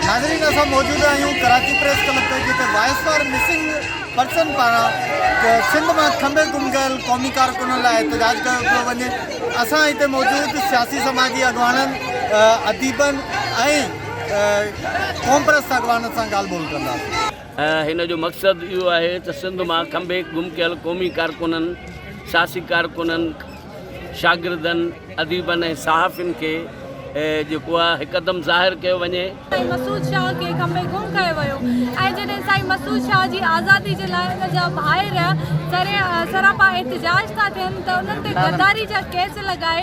ناظرين اسان موجود آهيون ڪراچي پريس ڪلب تي جتي وائس فار مسنگ پرسن پاران سنڌ مان کنڀي گم ڪيل قومي ڪارڪنن لاء احتجاج ڪيو پيو وڃي اسان هتي موجود سياسي سماجي اڳواڻن اديبن ۽ قومپرست اڳواڻن سان ڳالهه ٻولهه ڪنداسين. هن جو مقصد اهو آهي ته سنڌ مان کنڀيڪ گم ڪيل قومي ڪارڪنن، سياسي ڪارڪنن، شاگردن، اديبن ۽ صحافين کي جيڪو آهي هڪدم ظاهر ڪيو وڃي. سائين مسعود شاهه کي کنڀي گم ڪيو ويو ۽ جڏهن سائين مسعود شاهه جي آزادي جي لاء ان جا ڀائر سراپا احتجاج ٿا ٿين ته انهن تي غداري جا ڪيس لڳائي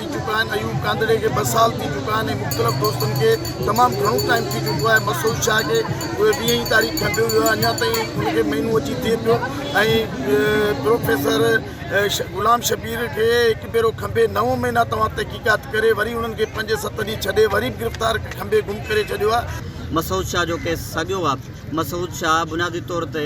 ٿي چڪا آهن ايوب ڪانڌڙي کي ٻه سال ٿي چڪا آهن ۽ مختلف دوستن کي تمام گهڻو ٽائيم ٿي چڪو آهي مسعود شاهه کي ويهه ئي تاريخ کنڊيو ويو آهي اڃا تائين ان کي مهينو اچي ٿئي پيو ۽ پروفيسر غلام شبير کي هڪ ڀيرو کنڀي نو مهينا توهان تحقيقات ڪري وري انهن کي پنج ست ڏينهن ڇڏي وري به گرفتار کنڀي گم ڪري ڇڏيو آهي. مسعود شاهه جو ڪيس ساڳيو آهي مسعود شاهه بنيادي طور تي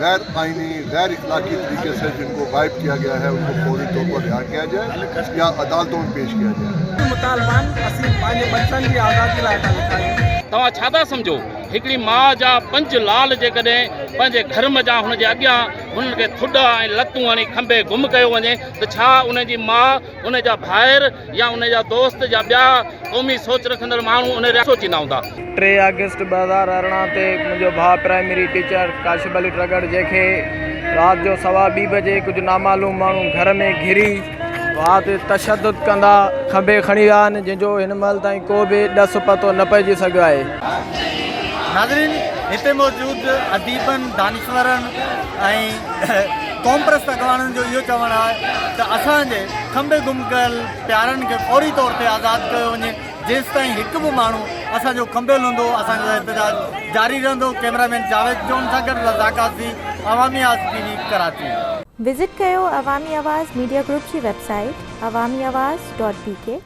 غير آئيني، غير اخلاقي طريقي سي جن ڪو غائب ڪيا گيا هي ان ڪو فوري طور پر رهاء ڪيا جائي يا عدالتون ۾ پيش ڪيا جائي. مطالبان اسين پنهنجي ٻچن جي آزادي لاء ٿا لکايون. توهان ڇا ٿا سمجهو هڪڙي ماء جا پنج لال جيڪڏهن پنهنجي گهر منجهان هن جي اڳيان هنن کي ٿڏا ۽ لتون هڻي کنڀي گم ڪيو وڃي ته ڇا ان جي ماء ان جا ڀائر يا ان جا دوست يا ٻيا قومي سوچ رکندڙ ماڻهو ان رياست سوچيندا هوندا. ٽي آگسٽ ٻه هزار ارڙهن تي منهنجو ڀاء پرائمري ٽيچر ڪاشف علي ٽرڳڙ جنهن کي رات جو سوا ٻي بجي ڪجهه نامعلوم ماڻهو گهر ۾ گهري ڀاء تي تشدد ڪندا کنڀي کڻي ويا آهن جنهن جو هن مهل تائين ڪو به ڏس پتو نه پئجي سگهيو آهي. ناظرين هتي موجود اديبن، دانشورن ۽ قومپرست اڳواڻن جو اهو چوڻ آهي ته اسان جي کنڀي گم ڪيل پيارن کي فوري طور تي آزاد ڪيو وڃي، جيستائين هڪ به ماڻهو اسان جو کنڀيل هوندو اسان جو احتجاج جاري رهندو، ڪيمرا مين جاويد جون سان گڏ رضا Qazi, Awami Awaz T V, Karachi. Visit ڪيو عوامي آواز ميڊيا گروپ جي web site Awami Awaz dot بي ڪي.